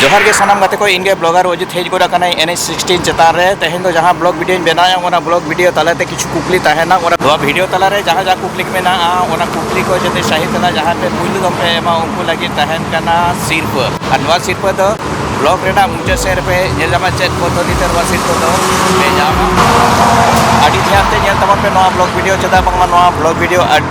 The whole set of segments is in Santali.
ᱡᱚᱦᱟᱨ ᱜᱮ ᱥᱟᱱᱟᱢ ᱜᱟᱛᱮ ᱠᱚ ᱤᱧ ᱜᱮ ᱵᱞᱚᱜᱟᱨ ᱚᱡᱤᱛ ᱦᱮᱡ ᱜᱚᱫ ᱟᱠᱟᱱᱟᱭ ᱮᱱ ᱮᱪ ᱥᱤᱠᱥᱴᱤᱱ ᱪᱮᱛᱟᱱ ᱨᱮ ᱛᱮᱦᱮᱧ ᱫᱚ ᱡᱟᱦᱟᱸ ᱵᱞᱚᱜ ᱵᱷᱤᱰᱤᱭᱳᱧ ᱵᱮᱱᱟᱣᱟ ᱚᱱᱟ ᱵᱞᱚᱜ ᱵᱷᱤᱰᱤᱭᱳ ᱛᱟᱞᱟᱛᱮ ᱠᱤᱪᱷᱩ ᱠᱩᱠᱞᱤ ᱛᱟᱦᱮᱱᱟ ᱚᱱᱟ ᱱᱚᱣᱟ ᱵᱷᱤᱰᱤᱭᱳ ᱛᱟᱞᱟᱨᱮ ᱡᱟᱦᱟᱸ ᱡᱟᱦᱟᱸ ᱠᱩᱠᱞᱤ ᱠᱚ ᱢᱮᱱᱟᱜᱼᱟ ᱚᱱᱟ ᱠᱩᱠᱞᱤ ᱠᱚ ᱡᱟᱛᱮ ᱥᱟᱹᱦᱤ ᱛᱮᱞᱟ ᱡᱟᱦᱟᱸ ᱯᱮ ᱯᱩᱭᱞᱩ ᱫᱚᱢ ᱯᱮ ᱮᱢᱟ ᱩᱱᱠᱩ ᱞᱟᱹᱜᱤᱫ ᱛᱟᱦᱮᱱ ᱠᱟᱱᱟ ᱥᱤᱨᱯᱟᱹ ᱟᱨ ᱱᱚᱣᱟ ᱥᱤᱨᱯᱟᱹ ᱫᱚ ᱵᱞᱚᱜ ᱨᱮᱱᱟᱜ ᱢᱩᱪᱟᱹᱫ ᱥᱮᱫ ᱨᱮᱯᱮ ᱧᱮᱞ ᱧᱟᱢᱟ ᱪᱮᱫ ᱯᱚᱫᱽᱫᱷᱚᱛᱤ ᱛᱮ ᱱᱚᱣᱟ ᱥᱤᱨᱯᱟᱹ ᱫᱚ ᱯᱮ ᱧᱟᱢᱟ ᱟᱹᱰᱤ ᱫᱷᱮᱭᱟᱱ ᱛᱮ ᱧᱮᱞ ᱛᱟᱵᱚᱱ ᱯᱮ ᱱᱚᱣᱟ ᱵᱞᱚᱜ ᱵᱷᱤᱰᱤᱭᱳ ᱪᱮᱫᱟᱜ ᱵᱟᱝᱢᱟ ᱱᱚᱣᱟ ᱵᱞᱚᱜ ᱵᱷᱤᱰᱤᱭᱳ ᱟᱹᱰᱤ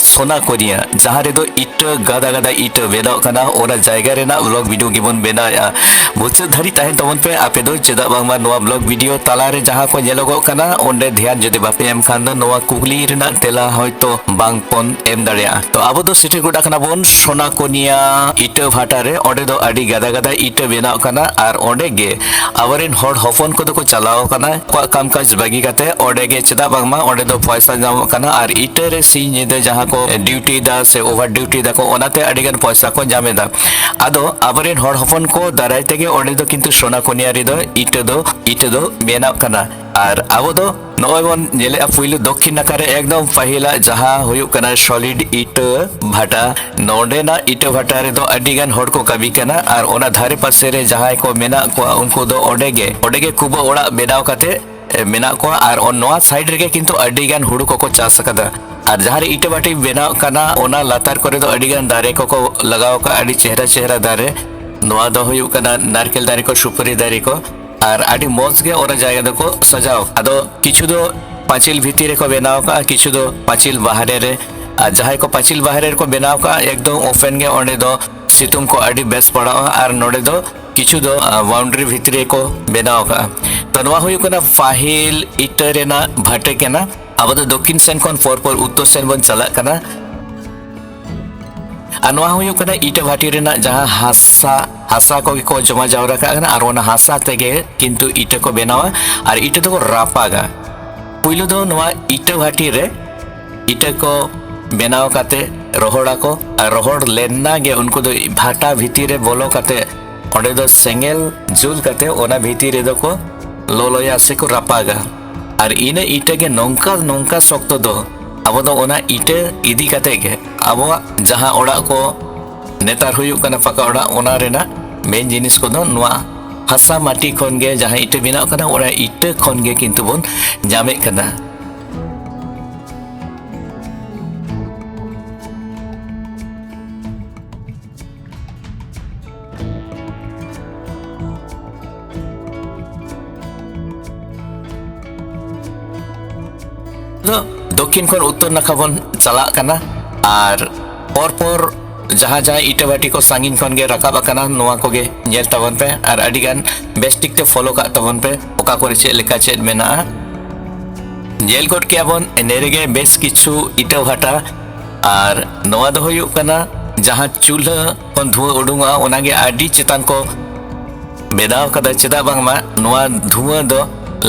ᱥᱚᱱᱟ ᱠᱚᱨᱤᱭᱟ ᱡᱟᱦᱟᱸ ᱨᱮᱫᱚ ᱤᱴᱟᱹ ᱜᱟᱫᱟ ᱜᱟᱫᱟ ᱤᱴᱟᱹ ᱵᱮᱱᱟᱣ ᱠᱟᱱᱟ ᱚᱱᱟ ᱡᱟᱭᱜᱟ ᱨᱮᱱᱟᱜ ᱵᱞᱚᱜ ᱵᱷᱤᱰᱤᱭᱳ ᱜᱮᱵᱚᱱ ᱵᱮᱱᱟᱣᱮᱫᱼᱟ ᱢᱩᱪᱟᱹᱫ ᱫᱷᱟᱹᱨᱤᱡ ᱛᱟᱦᱮᱱ ᱛᱟᱵᱚᱱ ᱯᱮ ᱟᱯᱮ ᱫᱚ ᱪᱮᱫᱟᱜ ᱵᱟᱝᱢᱟ ᱱᱚᱣᱟ ᱵᱞᱚᱜ ᱵᱷᱤᱰᱤᱭᱳ ᱛᱟᱞᱟᱨᱮ ᱡᱟᱦᱟᱸ ᱠᱚ ᱧᱮᱞᱚᱜᱚᱜ ᱠᱟᱱᱟ ᱚᱸᱰᱮ ᱫᱷᱮᱭᱟᱱ ᱡᱩᱫᱤ ᱵᱟᱯᱮ ᱮᱢ ᱠᱷᱟᱱ ᱫᱚ ᱱᱚᱣᱟ ᱠᱩᱠᱞᱤ ᱨᱮᱱᱟᱜ ᱛᱮᱞᱟ ᱦᱚᱭᱛᱚ ᱵᱟᱝ ᱵᱚᱱ ᱮᱢ ᱫᱟᱲᱮᱭᱟᱜᱼᱟ ᱛᱚ ᱟᱵᱚ ᱫᱚ ᱥᱮᱴᱮᱨ ᱜᱚᱫ ᱟᱠᱟᱱᱟ ᱵᱚᱱ ᱥᱚᱱᱟ ᱠᱚᱨᱤᱭᱟ ᱤᱴᱟᱹ ᱵᱷᱟᱴᱟ ᱨᱮ ᱚᱸᱰᱮ ᱫᱚ ᱟᱹᱰᱤ ᱜᱟᱫᱟ ᱜᱟᱫᱟ ᱤᱴᱟᱹ ᱵᱮᱱᱟᱣ ᱠᱟᱱᱟ ᱟᱨ ᱚᱸᱰᱮ ᱜᱮ ᱟᱵᱚᱨᱮᱱ ᱦᱚᱲ ᱦᱚᱯᱚᱱ ᱠᱚᱫᱚ ᱠᱚ ᱪᱟᱞᱟᱣ ᱠᱟᱱᱟ ᱟᱠᱚᱣᱟᱜ ᱠᱟᱢ ᱠᱟᱡᱽ ᱵᱟᱹᱜᱤ ᱠᱟᱛᱮ ᱚᱸᱰᱮ ᱜᱮ ᱪᱮᱫᱟᱜ ᱵᱟᱝᱢᱟ ᱚᱸᱰᱮ ᱫᱚ ᱯᱚᱭᱥᱟ ᱧᱟᱢᱚᱜ ᱠᱟᱱᱟ ᱟᱨ ᱤᱴᱟᱹ ᱨᱮ ᱥᱤᱧ ᱧᱤᱫᱟᱹ ᱡᱟᱦᱟᱸ ᱠᱚ ᱰᱤᱭᱩᱴᱤ ᱫᱟ ᱥᱮ ᱳᱵᱷᱟᱨ ᱰᱤᱭᱩᱴᱤ ᱫᱟᱠᱚ ᱚᱱᱟᱛᱮ ᱟᱹᱰᱤ ᱜᱟᱱ ᱯᱚᱭᱥᱟ ᱠᱚ ᱧᱟᱢ ᱮᱫᱟ ᱟᱫᱚ ᱟᱵᱚᱨᱮᱱ ᱦᱚᱲ ᱦᱚᱯᱚᱱ ᱠᱚ ᱫᱟᱨᱟᱭ ᱛᱮᱜᱮ ᱚᱸᱰᱮ ᱫᱚ ᱠᱤᱱᱛᱩ ᱥᱳᱱᱟ ᱠᱚᱱᱤᱭᱟ ᱨᱮᱫᱚ ᱤᱴᱟᱹ ᱫᱚ ᱤᱴᱟᱹ ᱫᱚ ᱵᱮᱱᱟᱜ ᱠᱟᱱᱟ ᱟᱨ ᱟᱵᱚ ᱫᱚ ᱱᱚᱜᱼᱚᱭ ᱵᱚᱱ ᱧᱮᱞᱮᱫᱼᱟ ᱯᱩᱭᱞᱩ ᱫᱚᱠᱠᱷᱤᱱ ᱱᱟᱠᱷᱟ ᱨᱮ ᱮᱠᱫᱚᱢ ᱯᱟᱹᱦᱤᱞᱟᱜ ᱡᱟᱦᱟᱸ ᱦᱩᱭᱩᱜ ᱠᱟᱱᱟ ᱥᱚᱞᱤᱰ ᱤᱴᱟᱹ ᱵᱷᱟᱴᱟ ᱱᱚᱸᱰᱮᱱᱟᱜ ᱤᱴᱟᱹ ᱵᱷᱟᱴᱟ ᱨᱮᱫᱚ ᱟᱹᱰᱤ ᱜᱟᱱ ᱦᱚᱲ ᱠᱚ ᱠᱟᱹᱢᱤ ᱠᱟᱱᱟ ᱟᱨ ᱚᱱᱟ ᱫᱷᱟᱨᱮ ᱯᱟᱥᱮ ᱨᱮ ᱡᱟᱦᱟᱸᱭ ᱠᱚ ᱢᱮᱱᱟᱜ ᱠᱚᱣᱟ ᱩᱱᱠᱩ ᱫᱚ ᱚᱸᱰᱮ ᱜᱮ ᱚᱸᱰᱮ ᱜᱮ ᱠᱩᱵᱟᱹ ᱚᱲᱟᱜ ᱵᱮᱱᱟᱣ ᱠᱟᱛᱮ ᱢᱮᱱᱟᱜ ᱠᱚᱣᱟ ᱟᱨ ᱱᱚᱣᱟ ᱥᱟᱭᱤᱰ ᱨᱮᱜᱮ ᱠᱤᱱᱛᱩ ᱟᱹᱰᱤ ᱜᱟᱱ ᱦᱩᱲᱩ ᱠᱚᱠᱚ ᱪᱟᱥ ᱟᱠᱟᱫᱟ ᱟᱨ ᱡᱟᱦᱟᱸ ᱨᱮ ᱤᱴᱟᱹ ᱵᱟᱹᱴᱤ ᱵᱮᱱᱟᱣ ᱠᱟᱱᱟ ᱚᱱᱟ ᱞᱟᱛᱟᱨ ᱠᱚᱨᱮ ᱫᱚ ᱟᱹᱰᱤ ᱜᱟᱱ ᱫᱟᱨᱮ ᱠᱚᱠᱚ ᱞᱟᱜᱟᱣ ᱟᱠᱟᱫ ᱟᱹᱰᱤ ᱪᱮᱦᱨᱟ ᱪᱮᱦᱨᱟ ᱫᱟᱨᱮ ᱱᱚᱣᱟ ᱫᱚ ᱦᱩᱭᱩᱜ ᱠᱟᱱᱟ ᱱᱟᱨᱠᱮᱞ ᱫᱟᱨᱮ ᱠᱚ ᱥᱩᱯᱟᱹᱨᱤ ᱫᱟᱨᱮ ᱠᱚ ᱟᱨ ᱟᱹᱰᱤ ᱢᱚᱡᱽ ᱜᱮ ᱚᱱᱟ ᱡᱟᱭᱜᱟ ᱫᱚᱠᱚ ᱥᱟᱡᱟᱣ ᱟᱫᱚ ᱠᱤᱪᱷᱩ ᱫᱚ ᱯᱟᱸᱪᱤᱞ ᱵᱷᱤᱛᱤᱨ ᱨᱮᱠᱚ ᱵᱮᱱᱟᱣ ᱟᱠᱟᱫᱼᱟ ᱠᱤᱪᱷᱩ ᱫᱚ ᱯᱟᱸᱪᱤᱞ ᱵᱟᱦᱨᱮ ᱨᱮ ᱟᱨ ᱡᱟᱦᱟᱸᱭ ᱠᱚ ᱯᱟᱸᱪᱤᱞ ᱵᱟᱦᱨᱮ ᱨᱮᱠᱚ ᱵᱮᱱᱟᱣ ᱟᱠᱟᱫᱼᱟ ᱮᱠᱫᱚᱢ ᱳᱯᱮᱱ ᱜᱮ ᱚᱸᱰᱮ ᱫᱚ ᱥᱤᱛᱩᱝ ᱠᱚ ᱟᱹᱰᱤ ᱵᱮᱥ ᱯᱟᱲᱟᱜᱼᱟ ᱟᱨ ᱱᱚᱸᱰᱮ ᱫᱚ ᱠᱤᱪᱷᱩ ᱫᱚ ᱵᱟᱣᱩᱱᱰᱨᱤ ᱵᱷᱤᱛᱨᱤ ᱨᱮᱠᱚ ᱵᱮᱱᱟᱣ ᱟᱠᱟᱫᱼᱟ ᱛᱚ ᱱᱚᱣᱟ ᱦᱩᱭᱩᱜ ᱠᱟᱱᱟ ᱯᱟᱹᱦᱤᱞ ᱤᱴᱟᱹ ᱨᱮᱱᱟᱜ ᱵᱷᱟᱴᱮ ᱠᱟᱱᱟ ᱟᱵᱚ ᱫᱚ ᱫᱚᱠᱠᱷᱤᱱ ᱥᱮᱱ ᱠᱷᱚᱱ ᱯᱚᱨ ᱯᱚᱨ ᱩᱛᱛᱚᱨ ᱥᱮᱱ ᱵᱚᱱ ᱪᱟᱞᱟᱜ ᱠᱟᱱᱟ ᱟᱨ ᱱᱚᱣᱟ ᱦᱩᱭᱩᱜ ᱠᱟᱱᱟ ᱤᱴᱟᱹ ᱵᱷᱟᱴᱤ ᱨᱮᱱᱟᱜ ᱡᱟᱦᱟᱸ ᱦᱟᱥᱟ ᱦᱟᱥᱟ ᱠᱚᱜᱮ ᱠᱚ ᱡᱚᱢᱟ ᱡᱟᱣᱨᱟ ᱠᱟᱜ ᱠᱟᱱᱟ ᱟᱨ ᱚᱱᱟ ᱦᱟᱥᱟ ᱛᱮᱜᱮ ᱠᱤᱱᱛᱩ ᱤᱴᱟᱹ ᱠᱚ ᱵᱮᱱᱟᱣᱟ ᱟᱨ ᱤᱴᱟᱹ ᱫᱚᱠᱚ ᱨᱟᱯᱟᱜᱟ ᱯᱩᱭᱞᱩ ᱫᱚ ᱱᱚᱣᱟ ᱤᱴᱟᱹ ᱵᱷᱟᱴᱤ ᱨᱮ ᱤᱴᱟᱹ ᱠᱚ ᱵᱮᱱᱟᱣ ᱠᱟᱛᱮ ᱨᱚᱦᱚᱲᱟᱠᱚ ᱟᱨ ᱨᱚᱦᱚᱲ ᱞᱮᱱᱟ ᱜᱮ ᱩᱱᱠᱩ ᱫᱚ ᱵᱷᱟᱴᱟ ᱵᱷᱤᱛᱤᱨ ᱨᱮ ᱵᱚᱞᱚ ᱠᱟᱛᱮ ᱚᱸᱰᱮ ᱫᱚ ᱥᱮᱸᱜᱮᱞ ᱡᱩᱞ ᱠᱟᱛᱮ ᱚᱱᱟ ᱵᱷᱤᱛᱤᱨ ᱨᱮᱫᱚ ᱠᱚ ᱞᱚᱞᱚᱭᱟ ᱥᱮ ᱠᱚ ᱨᱟᱯᱟᱜᱟ ᱟᱨ ᱤᱱᱟᱹ ᱤᱴᱟᱹ ᱜᱮ ᱱᱚᱝᱠᱟ ᱱᱚᱝᱠᱟ ᱥᱚᱠᱛᱚ ᱫᱚ ᱟᱵᱚ ᱫᱚ ᱚᱱᱟ ᱤᱴᱟᱹ ᱤᱫᱤ ᱠᱟᱛᱮ ᱜᱮ ᱟᱵᱚᱣᱟᱜ ᱡᱟᱦᱟᱸ ᱚᱲᱟᱜ ᱠᱚ ᱱᱮᱛᱟᱨ ᱦᱩᱭᱩᱜ ᱠᱟᱱᱟ ᱯᱟᱠᱟ ᱚᱲᱟᱜ ᱚᱱᱟ ᱨᱮᱱᱟᱜ ᱢᱮᱱ ᱡᱤᱱᱤᱥ ᱠᱚᱫᱚ ᱱᱚᱣᱟ ᱦᱟᱥᱟ ᱢᱟᱹᱴᱤ ᱠᱷᱚᱱ ᱜᱮ ᱡᱟᱦᱟᱸ ᱤᱴᱟᱹ ᱵᱮᱱᱟᱜ ᱠᱟᱱᱟ ᱚᱱᱟ ᱤᱴᱟᱹ ᱠᱷᱚᱱ ᱜᱮ ᱠᱤᱱᱛᱩ ᱵᱚᱱ ᱧᱟᱢᱮᱫ ᱠᱟᱱᱟ ᱫᱚᱠᱷᱤᱱ ᱠᱷᱚᱱ ᱩᱛᱛᱚᱨ ᱱᱟᱠᱷᱟ ᱵᱚᱱ ᱪᱟᱞᱟᱜ ᱠᱟᱱᱟ ᱟᱨ ᱯᱚᱨᱯᱚᱨ ᱡᱟᱦᱟᱸ ᱡᱟᱦᱟᱸ ᱤᱴᱟᱹ ᱵᱷᱟᱴᱤ ᱠᱚ ᱥᱟᱺᱜᱤᱧ ᱠᱷᱚᱱ ᱜᱮ ᱨᱟᱠᱟᱵ ᱟᱠᱟᱱᱟ ᱱᱚᱣᱟ ᱠᱚᱜᱮ ᱧᱮᱞ ᱛᱟᱵᱚᱱ ᱯᱮ ᱟᱨ ᱟᱹᱰᱤ ᱜᱟᱱ ᱵᱮᱥ ᱴᱷᱤᱠ ᱛᱮ ᱯᱷᱳᱞᱳ ᱠᱟᱜ ᱛᱟᱵᱚᱱ ᱯᱮ ᱚᱠᱟ ᱠᱚᱨᱮ ᱪᱮᱫ ᱞᱮᱠᱟ ᱪᱮᱫ ᱢᱮᱱᱟᱜᱼᱟ ᱧᱮᱞ ᱜᱚᱫ ᱠᱮᱜᱼᱟ ᱵᱚᱱ ᱮᱱᱮ ᱨᱮᱜᱮ ᱵᱮᱥ ᱠᱤᱪᱷᱩ ᱤᱴᱟᱹ ᱵᱷᱟᱴᱟ ᱟᱨ ᱱᱚᱣᱟ ᱫᱚ ᱦᱩᱭᱩᱜ ᱠᱟᱱᱟ ᱡᱟᱦᱟᱸ ᱪᱩᱞᱦᱟᱹ ᱠᱷᱚᱱ ᱫᱷᱩᱣᱟᱹ ᱩᱰᱩᱝᱚᱜᱼᱟ ᱚᱱᱟᱜᱮ ᱟᱹᱰᱤ ᱪᱮᱛᱟᱱ ᱠᱚ ᱵᱮᱱᱟᱣ ᱠᱟᱫᱟ ᱪᱮᱫᱟᱜ ᱵᱟᱝᱢᱟ ᱱᱚᱣᱟ ᱫᱷᱩᱣᱟᱹ ᱫᱚ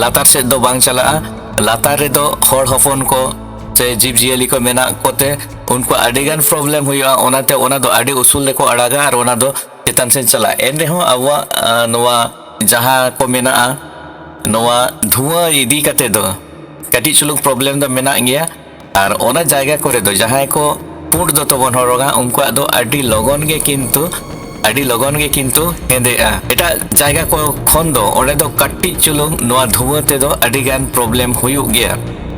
ᱞᱟᱛᱟᱨ ᱥᱮᱫ ᱫᱚ ᱵᱟᱝ ᱪᱟᱞᱟᱜᱼᱟ ᱞᱟᱛᱟᱨ ᱨᱮᱫᱚ ᱦᱚᱲ ᱦᱚᱯᱚᱱ ᱠᱚ ᱥᱮ ᱡᱤᱵᱽ ᱡᱤᱭᱟᱹᱞᱤ ᱠᱚ ᱢᱮᱱᱟᱜ ᱠᱚᱛᱮ ᱩᱱᱠᱩ ᱟᱹᱰᱤᱜᱟᱱ ᱯᱨᱚᱵᱞᱮᱢ ᱦᱩᱭᱩᱜᱼᱟ ᱚᱱᱟᱛᱮ ᱚᱱᱟ ᱫᱚ ᱟᱹᱰᱤ ᱩᱥᱩᱞ ᱨᱮᱠᱚ ᱟᱲᱟᱜᱟ ᱟᱨ ᱚᱱᱟ ᱫᱚ ᱪᱮᱛᱟᱱ ᱥᱮᱫ ᱪᱟᱞᱟᱜᱼᱟ ᱮᱱ ᱨᱮᱦᱚᱸ ᱟᱵᱚᱣᱟᱜ ᱱᱚᱣᱟ ᱡᱟᱦᱟᱸ ᱠᱚ ᱢᱮᱱᱟᱜᱼᱟ ᱱᱚᱣᱟ ᱫᱷᱩᱣᱟᱹ ᱤᱫᱤ ᱠᱟᱛᱮ ᱫᱚ ᱠᱟᱹᱴᱤᱡ ᱪᱩᱞᱩᱝ ᱯᱨᱚᱵᱞᱮᱢ ᱫᱚ ᱢᱮᱱᱟᱜ ᱜᱮᱭᱟ ᱟᱨ ᱚᱱᱟ ᱡᱟᱭᱜᱟ ᱠᱚᱨᱮ ᱫᱚ ᱡᱟᱦᱟᱸᱭ ᱠᱚ ᱯᱩᱸᱰ ᱫᱚᱛᱚ ᱵᱚᱱ ᱦᱚᱨᱚᱜᱟ ᱩᱱᱠᱩᱣᱟᱜ ᱫᱚ ᱟᱹᱰᱤ ᱞᱚᱜᱚᱱ ᱜᱮ ᱠᱤᱱᱛᱩ ᱟᱹᱰᱤ ᱞᱚᱜᱚᱱ ᱜᱮ ᱠᱤᱱᱛᱩ ᱦᱮᱸᱫᱮᱜᱼᱟ ᱮᱴᱟᱜ ᱡᱟᱭᱜᱟ ᱠᱚ ᱠᱷᱚᱱ ᱫᱚ ᱚᱸᱰᱮ ᱫᱚ ᱠᱟᱹᱴᱤᱡ ᱪᱩᱞᱩᱝ ᱱᱚᱣᱟ ᱫᱷᱩᱣᱟᱹ ᱛᱮᱫᱚ ᱟᱹᱰᱤ ᱜᱟᱱ ᱯᱨᱚᱵᱞᱮᱢ ᱦᱩᱭᱩᱜ ᱜᱮᱭᱟ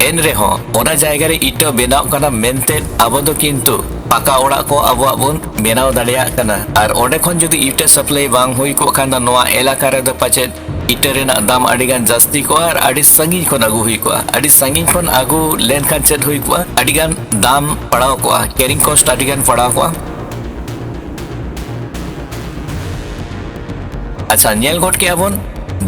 ᱮᱱ ᱨᱮᱦᱚᱸ ᱚᱱᱟ ᱡᱟᱭᱜᱟ ᱨᱮ ᱤᱴᱟᱹ ᱵᱮᱱᱟᱣ ᱠᱟᱱᱟ ᱢᱮᱱᱛᱮ ᱟᱵᱚ ᱫᱚ ᱠᱤᱱᱛᱩ ᱯᱟᱠᱟ ᱚᱲᱟᱜ ᱠᱚ ᱟᱵᱚᱣᱟᱜ ᱵᱚᱱ ᱵᱮᱱᱟᱣ ᱫᱟᱲᱮᱭᱟᱜ ᱠᱟᱱᱟ ᱟᱨ ᱚᱸᱰᱮ ᱠᱷᱚᱱ ᱡᱩᱫᱤ ᱤᱴᱟᱹ ᱥᱟᱯᱞᱟᱭ ᱵᱟᱝ ᱦᱩᱭ ᱠᱚᱜ ᱠᱷᱟᱱ ᱫᱚ ᱱᱚᱣᱟ ᱮᱞᱟᱠᱟ ᱨᱮᱫᱚ ᱯᱟᱪᱮᱫ ᱤᱴᱟᱹ ᱨᱮᱱᱟᱜ ᱫᱟᱢ ᱟᱹᱰᱤ ᱜᱟᱱ ᱡᱟᱹᱥᱛᱤ ᱠᱚᱜᱼᱟ ᱟᱨ ᱟᱹᱰᱤ ᱥᱟᱺᱜᱤᱧ ᱠᱷᱚᱱ ᱟᱹᱜᱩ ᱦᱩᱭ ᱠᱚᱜᱼᱟ ᱟᱹᱰᱤ ᱥᱟᱺᱜᱤᱧ ᱠᱷᱚᱱ ᱟᱹᱜᱩ ᱞᱮᱱᱠᱷᱟᱱ ᱪᱮᱫ ᱦᱩᱭ ᱠᱚᱜᱼᱟ ᱟᱹᱰᱤ ᱜᱟᱱ ᱫᱟᱢ ᱯᱟᱲᱟᱣ ᱠᱚᱜᱼᱟ ᱠᱮᱨᱤᱝ ᱠᱚᱥᱴ ᱟᱹᱰᱤ ᱜᱟᱱ ᱯᱟᱲᱟᱣ ᱠᱚᱜᱼᱟ ᱟᱪᱪᱷᱟ ᱧᱮᱞ ᱜᱚᱫ ᱠᱮᱜᱼᱟ ᱵᱚᱱ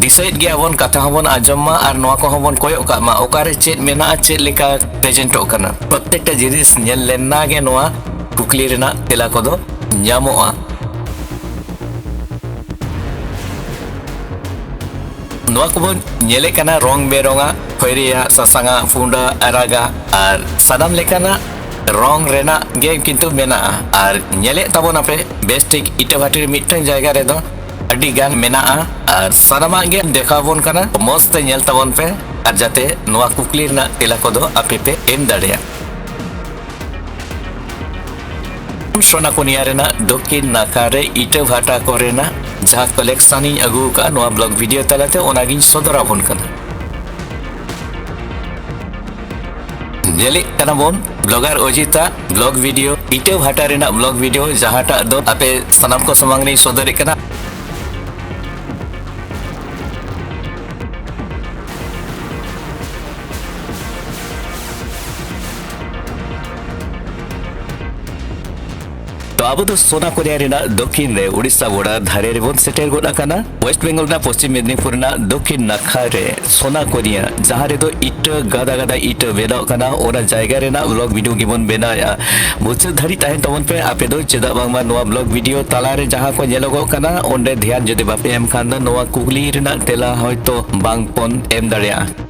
ᱫᱤᱥᱟᱹᱭᱮᱫ ᱜᱮᱭᱟ ᱵᱚᱱ ᱠᱟᱛᱷᱟ ᱦᱚᱸᱵᱚᱱ ᱟᱸᱡᱚᱢ ᱢᱟ ᱟᱨ ᱱᱚᱣᱟ ᱠᱚᱦᱚᱸ ᱵᱚᱱ ᱠᱚᱭᱚᱜ ᱠᱟᱜ ᱢᱟ ᱚᱠᱟᱨᱮ ᱪᱮᱫ ᱢᱮᱱᱟᱜᱼᱟ ᱪᱮᱫ ᱞᱮᱠᱟ ᱯᱨᱮᱡᱮᱱᱴᱚᱜ ᱠᱟᱱᱟ ᱯᱨᱚᱛᱮᱠᱴᱟ ᱡᱤᱱᱤᱥ ᱧᱮᱞ ᱞᱮᱱᱟ ᱜᱮ ᱱᱚᱣᱟ ᱠᱩᱠᱞᱤ ᱨᱮᱱᱟᱜ ᱛᱮᱞᱟ ᱠᱚᱫᱚ ᱧᱟᱢᱚᱜᱼᱟ ᱱᱚᱣᱟ ᱠᱚᱵᱚᱱ ᱧᱮᱞᱮᱫ ᱠᱟᱱᱟ ᱨᱚᱝ ᱵᱮᱨᱚᱝᱟᱜ ᱠᱷᱚᱭᱨᱤᱭᱟᱜ ᱥᱟᱥᱟᱝᱟᱜ ᱯᱩᱸᱰᱟᱜ ᱟᱨᱟᱜᱟᱜ ᱟᱨ ᱥᱟᱱᱟᱢ ᱞᱮᱠᱟᱱᱟᱜ ᱨᱚᱝ ᱨᱮᱱᱟᱜ ᱜᱮ ᱠᱤᱱᱛᱩ ᱢᱮᱱᱟᱜᱼᱟ ᱟᱨ ᱧᱮᱞᱮᱫ ᱛᱟᱵᱚᱱᱟᱯᱮ ᱵᱮᱥ ᱴᱷᱤᱠ ᱤᱴᱟᱹᱵᱷᱟᱴᱤ ᱨᱮ ᱢᱤᱫᱴᱟᱝ ᱡᱟᱭᱜᱟ ᱨᱮᱫᱚ ᱟᱹᱰᱤ ᱜᱟᱱ ᱢᱮᱱᱟᱜᱼᱟ ᱟᱨ ᱥᱟᱱᱟᱢᱟᱜ ᱜᱮ ᱫᱮᱠᱷᱟᱣ ᱵᱚᱱ ᱠᱟᱱᱟ ᱢᱚᱡᱽ ᱛᱮ ᱧᱮᱞ ᱛᱟᱵᱚᱱ ᱯᱮ ᱟᱨ ᱡᱟᱛᱮ ᱱᱚᱣᱟ ᱠᱩᱠᱞᱤ ᱨᱮᱱᱟᱜ ᱛᱮᱞᱟ ᱠᱚᱫᱚ ᱟᱯᱮ ᱯᱮ ᱮᱢ ᱫᱟᱲᱮᱭᱟᱜ ᱥᱚᱱᱟᱠᱩᱱᱤᱭᱟ ᱨᱮᱱᱟᱜ ᱫᱚᱠᱠᱷᱤᱱ ᱱᱟᱠᱷᱟ ᱨᱮ ᱤᱴᱟᱹᱵᱷᱟᱴᱟ ᱠᱚᱨᱮᱱᱟᱜ ᱡᱟᱦᱟᱸ ᱠᱟᱞᱮᱠᱥᱚᱱ ᱤᱧ ᱟᱹᱜᱩ ᱟᱠᱟᱫᱼᱟ ᱱᱚᱣᱟ ᱵᱞᱚᱜ ᱵᱷᱤᱰᱤᱭᱳ ᱛᱟᱞᱟᱛᱮ ᱚᱱᱟᱜᱤᱧ ᱥᱚᱫᱚᱨ ᱟᱵᱚᱱ ᱠᱟᱱᱟ ᱧᱮᱞᱮᱫ ᱠᱟᱱᱟ ᱵᱚᱱ ᱵᱞᱚᱜᱟᱨ ᱚᱡᱤᱛᱟ ᱵᱞᱚᱜ ᱵᱷᱤᱰᱤᱭᱳ ᱤᱴᱟᱹ ᱵᱷᱟᱴᱟ ᱨᱮᱱᱟᱜ ᱵᱞᱚᱜ ᱵᱷᱤᱰᱤᱭᱳ ᱡᱟᱦᱟᱸᱴᱟᱜ ᱫᱚ ᱟᱯᱮ ᱥᱟᱱᱟᱢ ᱠᱚ ᱥᱟᱢᱟᱝ ᱨᱮᱧ ᱥᱚᱫᱚᱨᱮᱫ ᱠᱟᱱᱟ ᱛᱚ ᱟᱵᱚ ᱫᱚ ᱥᱚᱱᱟ ᱠᱳᱨᱤᱭᱟ ᱨᱮᱱᱟᱜ ᱫᱚᱠᱷᱤᱱ ᱨᱮ ᱩᱲᱤᱥᱥᱟ ᱜᱚᱰᱟ ᱫᱷᱟᱨᱮ ᱨᱮᱵᱚᱱ ᱥᱮᱴᱮᱨ ᱜᱚᱫ ᱟᱠᱟᱱᱟ ᱣᱮᱥᱴ ᱵᱮᱝᱜᱚᱞ ᱨᱮᱱᱟᱜ ᱯᱚᱥᱪᱤᱢ ᱢᱮᱫᱽᱱᱤᱯᱩᱨ ᱨᱮᱱᱟᱜ ᱫᱚᱠᱷᱤᱱ ᱱᱟᱠᱷᱟ ᱨᱮ ᱥᱚᱱᱟ ᱠᱳᱨᱤᱭᱟ ᱡᱟᱦᱟᱸ ᱨᱮᱫᱚ ᱤᱴᱟᱹ ᱜᱟᱫᱟ ᱜᱟᱫᱟ ᱤᱴᱟᱹ ᱵᱮᱱᱟᱣ ᱠᱟᱱᱟ ᱚᱱᱟ ᱡᱟᱭᱜᱟ ᱨᱮᱱᱟᱜ ᱵᱞᱚᱜ ᱵᱷᱤᱰᱤᱭᱳ ᱜᱮᱵᱚᱱ ᱵᱮᱱᱟᱣᱮᱫᱼᱟ ᱢᱩᱪᱟᱹᱫ ᱫᱷᱟᱹᱨᱤᱡ ᱛᱟᱦᱮᱱ ᱛᱟᱵᱚᱱ ᱯᱮ ᱟᱯᱮ ᱫᱚ ᱪᱮᱫᱟᱜ ᱵᱟᱝᱢᱟ ᱱᱚᱣᱟ ᱵᱞᱚᱜ ᱵᱷᱤᱰᱤᱭᱳ ᱛᱟᱞᱟᱨᱮ ᱡᱟᱦᱟᱸ ᱠᱚ ᱧᱮᱞᱚᱜᱚᱜ ᱠᱟᱱᱟ ᱚᱸᱰᱮ ᱫᱷᱮᱭᱟᱱ ᱡᱩᱫᱤ ᱵᱟᱯᱮ ᱮᱢ ᱠᱷᱟᱱ ᱫᱚ ᱱᱚᱣᱟ ᱠᱩᱠᱞᱤ ᱨᱮᱱᱟᱜ ᱛᱮᱞᱟ ᱦᱚᱭᱛᱳ ᱵᱟᱝ ᱵᱚᱱ ᱮᱢ ᱫᱟᱲᱮᱭᱟᱜᱼᱟ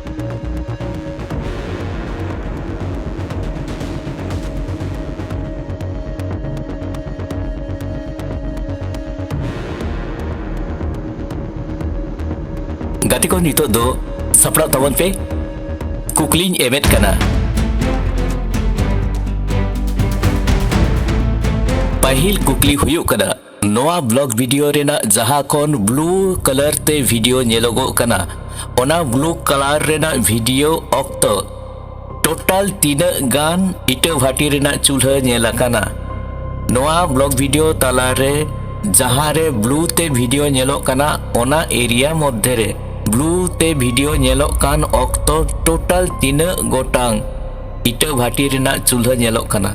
ᱜᱟᱛᱮ ᱠᱚ ᱱᱤᱛᱚᱜ ᱫᱚ ᱥᱟᱯᱲᱟᱣ ᱛᱟᱵᱚᱱ ᱯᱮ ᱠᱩᱠᱞᱤᱧ ᱮᱢᱮᱫ ᱠᱟᱱᱟ ᱯᱟᱹᱦᱤᱞ ᱠᱩᱠᱞᱤ ᱦᱩᱭᱩᱜ ᱠᱟᱱᱟ ᱱᱚᱣᱟ ᱵᱞᱚᱜ ᱵᱷᱤᱰᱤᱭᱳ ᱨᱮᱱᱟᱜ ᱡᱟᱦᱟᱸ ᱠᱷᱚᱱ ᱵᱞᱩ ᱠᱟᱞᱟᱨ ᱛᱮ ᱵᱷᱤᱰᱤᱭᱳ ᱧᱮᱞᱚᱜᱚᱜ ᱠᱟᱱᱟ ᱚᱱᱟ ᱵᱞᱩ ᱠᱟᱞᱟᱨ ᱨᱮᱱᱟᱜ ᱵᱷᱤᱰᱤᱭᱳ ᱚᱠᱛᱚ ᱴᱳᱴᱟᱞ ᱛᱤᱱᱟᱹᱜ ᱜᱟᱱ ᱤᱴᱟᱹ ᱵᱷᱟᱴᱤ ᱨᱮᱱᱟᱜ ᱪᱩᱞᱦᱟᱹ ᱧᱮᱞ ᱟᱠᱟᱱᱟ ᱱᱚᱣᱟ ᱵᱞᱚᱜ ᱵᱷᱤᱰᱤᱭᱳ ᱛᱟᱞᱟᱨᱮ ᱡᱟᱦᱟᱸ ᱨᱮ ᱵᱞᱩ ᱛᱮ ᱵᱷᱤᱰᱤᱭᱳ ᱧᱮᱞᱚᱜ ᱠᱟᱱᱟ ᱚᱱᱟ ᱮᱨᱤᱭᱟ ᱢᱚᱫᱽᱫᱷᱮ ᱨᱮ ᱵᱞᱩ ᱛᱮ ᱵᱷᱤᱰᱤᱭᱳ ᱧᱮᱞᱚᱜ ᱠᱟᱱ ᱚᱠᱛᱚ ᱴᱳᱴᱟᱞ ᱛᱤᱱᱟᱹᱜ ᱜᱚᱴᱟᱝ ᱤᱴᱟᱹ ᱵᱷᱟᱴᱤ ᱨᱮᱱᱟᱜ ᱪᱩᱞᱦᱟᱹ ᱧᱮᱞᱚᱜ ᱠᱟᱱᱟ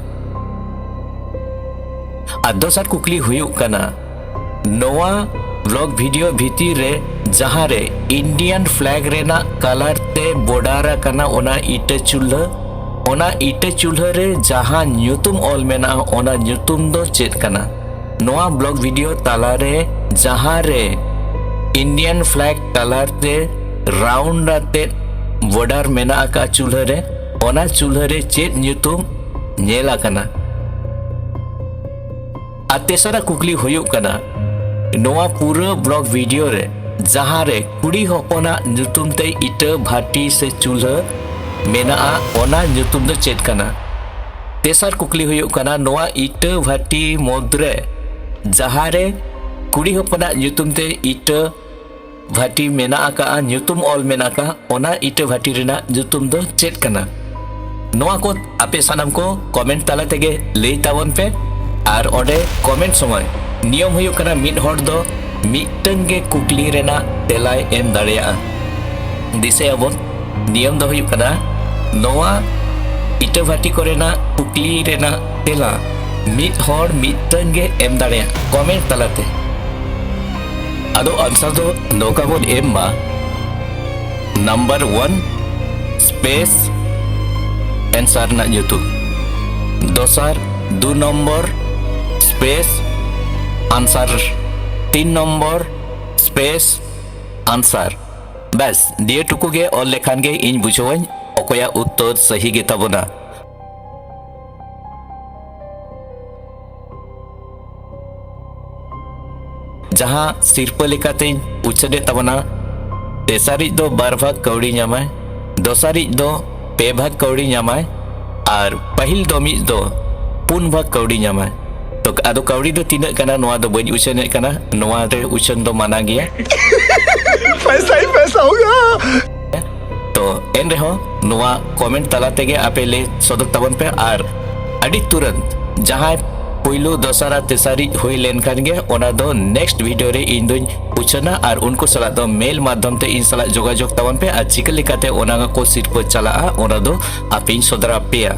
ᱟᱨ ᱫᱚᱥᱟᱨ ᱠᱩᱠᱞᱤ ᱦᱩᱭᱩᱜ ᱠᱟᱱᱟ ᱱᱚᱣᱟ ᱵᱞᱚᱜ ᱵᱷᱤᱰᱤᱭᱳ ᱵᱷᱤᱛᱤᱨ ᱨᱮ ᱡᱟᱦᱟᱸ ᱨᱮ ᱤᱱᱰᱤᱭᱟᱱ ᱯᱷᱞᱮᱜ ᱨᱮᱱᱟᱜ ᱠᱟᱞᱟᱨ ᱛᱮ ᱵᱚᱰᱟᱨ ᱟᱠᱟᱱᱟ ᱚᱱᱟ ᱤᱴᱟᱹ ᱪᱩᱞᱦᱟᱹ ᱚᱱᱟ ᱤᱴᱟᱹ ᱪᱩᱞᱦᱟᱹ ᱨᱮ ᱡᱟᱦᱟᱸ ᱧᱩᱛᱩᱢ ᱚᱞ ᱢᱮᱱᱟᱜᱼᱟ ᱚᱱᱟ ᱧᱩᱛᱩᱢ ᱫᱚ ᱪᱮᱫ ᱠᱟᱱᱟ ᱱᱚᱣᱟ ᱵᱞᱚᱜ ᱵᱷᱤᱰᱤᱭᱳ ᱛᱟᱞᱟ ᱨᱮ ᱡᱟᱦᱟᱸ ᱨᱮ ᱤᱱᱰᱤᱭᱟᱱ ᱯᱷᱞᱮᱜ ᱠᱟᱞᱟᱨ ᱛᱮ ᱨᱟᱣᱩᱱᱰ ᱟᱛᱮᱫ ᱵᱚᱰᱟᱨ ᱢᱮᱱᱟᱜ ᱟᱠᱟᱫ ᱪᱩᱞᱦᱟᱹ ᱨᱮ ᱚᱱᱟ ᱪᱩᱞᱦᱟᱹ ᱨᱮ ᱪᱮᱫ ᱧᱩᱛᱩᱢ ᱧᱮᱞ ᱟᱠᱟᱱᱟ ᱟᱨ ᱛᱮᱥᱟᱨᱟᱜ ᱠᱩᱠᱞᱤ ᱦᱩᱭᱩᱜ ᱠᱟᱱᱟ ᱱᱚᱣᱟ ᱯᱩᱨᱟᱹ ᱵᱞᱚᱜ ᱵᱷᱤᱰᱤᱭᱳ ᱨᱮ ᱡᱟᱦᱟᱸ ᱨᱮ ᱠᱩᱲᱤ ᱦᱚᱯᱚᱱᱟᱜ ᱧᱩᱛᱩᱢ ᱛᱮ ᱤᱴᱟᱹ ᱵᱷᱟᱴᱤ ᱥᱮ ᱪᱩᱞᱦᱟᱹ ᱢᱮᱱᱟᱜᱼᱟ ᱚᱱᱟ ᱧᱩᱛᱩᱢ ᱫᱚ ᱪᱮᱫ ᱠᱟᱱᱟ ᱛᱮᱥᱟᱨ ᱠᱩᱠᱞᱤ ᱦᱩᱭᱩᱜ ᱠᱟᱱᱟ ᱱᱚᱣᱟ ᱤᱴᱟᱹ ᱵᱷᱟᱴᱤ ᱢᱩᱫᱽᱨᱮ ᱡᱟᱦᱟᱸ ᱨᱮ ᱠᱩᱲᱤ ᱦᱚᱯᱚᱱᱟᱜ ᱧᱩᱛᱩᱢ ᱛᱮ ᱤᱴᱟᱹ ᱵᱷᱟᱴᱤ ᱢᱮᱱᱟᱜ ᱟᱠᱟᱫᱼᱟ ᱧᱩᱛᱩᱢ ᱚᱞ ᱢᱮᱱᱟᱜ ᱟᱠᱟᱫᱼᱟ ᱚᱱᱟ ᱤᱴᱟᱹ ᱵᱷᱟᱴᱤ ᱨᱮᱱᱟᱜ ᱧᱩᱛᱩᱢ ᱫᱚ ᱪᱮᱫ ᱠᱟᱱᱟ ᱱᱚᱣᱟ ᱠᱚ ᱟᱯᱮ ᱥᱟᱱᱟᱢ ᱠᱚ ᱠᱚᱢᱮᱱᱴ ᱛᱟᱞᱟ ᱛᱮᱜᱮ ᱞᱟᱹᱭ ᱛᱟᱵᱚᱱ ᱯᱮ ᱟᱨ ᱚᱸᱰᱮ ᱠᱚᱢᱮᱱᱴ ᱥᱚᱢᱚᱭ ᱱᱤᱭᱚᱢ ᱦᱩᱭᱩᱜ ᱠᱟᱱᱟ ᱢᱤᱫ ᱦᱚᱲ ᱫᱚ ᱢᱤᱫᱴᱟᱝ ᱜᱮ ᱠᱩᱠᱞᱤ ᱨᱮᱱᱟᱜ ᱛᱮᱞᱟᱭ ᱮᱢ ᱫᱟᱲᱮᱭᱟᱜᱼᱟ ᱫᱤᱥᱟᱹᱭᱟᱵᱚᱱ ᱱᱤᱭᱚᱢ ᱫᱚ ᱦᱩᱭᱩᱜ ᱠᱟᱱᱟ ᱱᱚᱣᱟ ᱤᱴᱟᱹ ᱵᱷᱟᱴᱤ ᱠᱚᱨᱮᱱᱟᱜ ᱠᱩᱠᱞᱤ ᱨᱮᱱᱟᱜ ᱛᱮᱞᱟ ᱢᱤᱫ ᱦᱚᱲ ᱢᱤᱫᱴᱟᱝ ᱜᱮ ᱮᱢ ᱫᱟᱲᱮᱭᱟᱜᱼᱟ ᱠᱚᱢᱮᱱᱴ ᱛᱟᱞᱟᱛᱮ ᱟᱫᱚ ᱟᱱᱥᱟᱨ ᱫᱚ ᱱᱚᱝᱠᱟ ᱵᱚᱱ ᱮᱢ ᱢᱟ ᱱᱟᱢᱵᱟᱨ ᱚᱣᱟᱱ ᱥᱯᱮᱥ ᱮᱱᱥᱟᱨ ᱨᱮᱱᱟᱜ ᱧᱩᱛᱩᱢ ᱫᱚᱥᱟᱨ ᱫᱩ ᱱᱚᱢᱵᱚᱨ ᱥᱯᱮᱥ ᱟᱱᱥᱟᱨ ᱛᱤᱱ ᱱᱚᱢᱵᱚᱨ ᱥᱯᱮᱥ ᱟᱱᱥᱟᱨ ᱵᱮᱥ ᱫᱤᱭᱮ ᱴᱩᱠᱩ ᱜᱮ ᱚᱞ ᱞᱮᱠᱷᱟᱱ ᱜᱮ ᱤᱧ ᱵᱩᱡᱷᱟᱹᱣᱟᱹᱧ ᱚᱠᱚᱭᱟᱜ ᱩᱛᱛᱚᱨ ᱥᱟᱹᱦᱤ ᱜᱮᱛᱟᱵᱚᱱᱟ ᱡᱟᱦᱟᱸ ᱥᱤᱨᱯᱟᱹ ᱞᱮᱠᱟᱛᱮᱧ ᱩᱪᱷᱟᱹᱱᱮᱫ ᱛᱟᱵᱚᱱᱟ ᱛᱮᱥᱟᱨᱤᱡ ᱫᱚ ᱵᱟᱨ ᱵᱷᱟᱜᱽ ᱠᱟᱹᱣᱰᱤ ᱧᱟᱢᱟᱭ ᱫᱚᱥᱟᱨᱤᱡ ᱫᱚ ᱯᱮ ᱵᱷᱟᱜᱽ ᱠᱟᱹᱣᱰᱤ ᱧᱟᱢᱟᱭ ᱟᱨ ᱯᱟᱹᱦᱤᱞ ᱫᱚ ᱢᱤᱫ ᱫᱚ ᱯᱩᱱ ᱵᱷᱟᱜᱽ ᱠᱟᱹᱣᱰᱤ ᱧᱟᱢᱟᱭ ᱛᱚ ᱟᱫᱚ ᱠᱟᱹᱣᱰᱤ ᱫᱚ ᱛᱤᱱᱟᱹᱜ ᱠᱟᱱᱟ ᱱᱚᱣᱟ ᱫᱚ ᱵᱟᱹᱧ ᱩᱪᱷᱟᱹᱱᱮᱫ ᱠᱟᱱᱟ ᱱᱚᱣᱟ ᱨᱮ ᱩᱪᱷᱟᱹᱱ ᱫᱚ ᱢᱟᱱᱟ ᱜᱮᱭᱟ ᱯᱚᱭᱥᱟ ᱦᱤ ᱯᱚᱭᱥᱟ ᱦᱳᱜᱟ ᱛᱚ ᱮᱱ ᱨᱮᱦᱚᱸ ᱱᱚᱣᱟ ᱠᱚᱢᱮᱱᱴ ᱛᱟᱞᱟ ᱛᱮᱜᱮ ᱟᱯᱮ ᱞᱟᱹᱭ ᱥᱚᱫᱚᱨ ᱛᱟᱵᱚᱱ ᱯᱮ ᱟᱨ ᱟᱹᱰᱤ ᱛᱩᱨᱟᱹᱱᱛ ᱡᱟᱦᱟᱸᱭ ᱯᱩᱭᱞᱩ ᱫᱚᱥᱟᱨ ᱟᱨ ᱛᱮᱥᱟᱨᱤᱡ ᱦᱩᱭ ᱞᱮᱱᱠᱷᱟᱱ ᱜᱮ ᱚᱱᱟ ᱫᱚ ᱱᱮᱠᱥᱴ ᱵᱷᱤᱰᱤᱭᱳ ᱨᱮ ᱤᱧ ᱫᱚᱧ ᱩᱪᱷᱟᱹᱱᱟ ᱟᱨ ᱩᱱᱠᱩ ᱥᱟᱞᱟᱜ ᱫᱚ ᱢᱮᱞ ᱢᱟᱫᱽᱫᱷᱚᱢ ᱛᱮ ᱤᱧ ᱥᱟᱞᱟᱜ ᱡᱳᱜᱟᱡᱳᱜᱽ ᱛᱟᱵᱚᱱ ᱯᱮ ᱟᱨ ᱪᱤᱠᱟᱹ ᱞᱮᱠᱟᱛᱮ ᱚᱱᱟ ᱠᱚ ᱥᱤᱨᱯᱟᱹ ᱪᱟᱞᱟᱜᱼᱟ ᱚᱱᱟ ᱫᱚ ᱟᱯᱮᱧ ᱥᱚᱫᱚᱨ ᱟᱯᱮᱭᱟ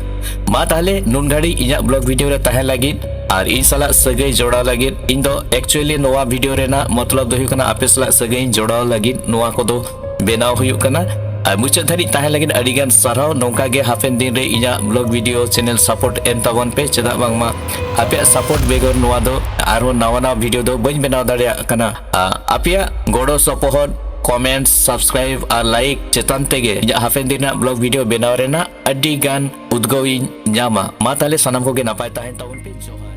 ᱢᱟ ᱛᱟᱦᱞᱮ ᱱᱩᱱ ᱜᱷᱟᱹᱲᱤᱡ ᱤᱧᱟᱹᱜ ᱵᱞᱚᱜ ᱵᱷᱤᱰᱤᱭᱳ ᱨᱮ ᱛᱟᱦᱮᱸ ᱞᱟᱹᱜᱤᱫ ᱟᱨ ᱤᱧ ᱥᱟᱞᱟᱜ ᱥᱟᱹᱜᱟᱹᱭ ᱡᱚᱲᱟᱣ ᱞᱟᱹᱜᱤᱫ ᱤᱧ ᱫᱚ ᱮᱠᱪᱩᱭᱮᱞᱤ ᱱᱚᱣᱟ ᱵᱷᱤᱰᱤᱭᱳ ᱨᱮᱱᱟᱜ ᱢᱚᱛᱞᱚᱵ ᱫᱚ ᱦᱩᱭᱩᱜ ᱠᱟᱱᱟ ᱟᱯᱮ ᱥᱟᱞᱟᱜ ᱥᱟᱹᱜᱟᱹᱭ ᱤᱧ ᱡᱚᱲᱟᱣ ᱞᱟᱹᱜᱤᱫ ᱱᱚᱣᱟ ᱠᱚᱫᱚ ᱵᱮᱱᱟᱣ ᱦᱩᱭᱩᱜ ᱠᱟᱱᱟ ᱟᱨ ᱢᱩᱪᱟᱹᱫ ᱫᱷᱟᱹᱨᱤᱡ ᱛᱟᱦᱮᱸ ᱞᱟᱹᱜᱤᱫ ᱟᱹᱰᱤᱜᱟᱱ ᱥᱟᱨᱦᱟᱣ ᱱᱚᱝᱠᱟ ᱜᱮ ᱦᱟᱯᱮᱱ ᱫᱤᱱ ᱨᱮ ᱤᱧᱟᱹᱜ ᱵᱞᱚᱜ ᱵᱷᱤᱰᱤᱭᱳ ᱪᱮᱱᱮᱞ ᱥᱟᱯᱳᱨᱴ ᱮᱢ ᱛᱟᱵᱚᱱ ᱯᱮ ᱪᱮᱫᱟᱜ ᱵᱟᱝᱢᱟ ᱟᱯᱮᱭᱟᱜ ᱥᱟᱯᱳᱨᱴ ᱵᱮᱜᱚᱨ ᱱᱚᱣᱟ ᱫᱚ ᱟᱨᱦᱚᱸ ᱱᱟᱣᱟ ᱱᱟᱣᱟ ᱵᱷᱤᱰᱤᱭᱳ ᱫᱚ ᱵᱟᱹᱧ ᱵᱮᱱᱟᱣ ᱫᱟᱲᱮᱭᱟᱜ ᱠᱟᱱᱟ ᱟᱯᱮᱭᱟᱜ ᱜᱚᱲᱚ ᱥᱚᱯᱚᱦᱚᱫ ᱠᱚᱢᱮᱱᱴ ᱥᱟᱵᱥᱠᱨᱟᱭᱤᱵ ᱟᱨ ᱞᱟᱭᱤᱠ ᱪᱮᱛᱟᱱ ᱛᱮᱜᱮ ᱤᱧᱟᱹᱜ ᱦᱟᱯᱮᱱ ᱫᱤᱱ ᱨᱮᱱᱟᱜ ᱵᱞᱚᱜ ᱵᱷᱤᱰᱤᱭᱳ ᱵᱮᱱᱟᱣ ᱨᱮᱱᱟᱜ ᱟᱹᱰᱤ ᱜᱟᱱ ᱩᱫᱽᱜᱟᱹᱣ ᱤᱧ ᱧᱟᱢᱟ ᱢᱟ ᱛᱟᱦᱞᱮ ᱥᱟᱱᱟᱢ ᱠᱚᱜᱮ ᱱᱟᱯᱟᱭ ᱛᱟᱦᱮᱱ ᱛᱟᱵᱚᱱ ᱯᱮ ᱡᱚᱦᱟᱨ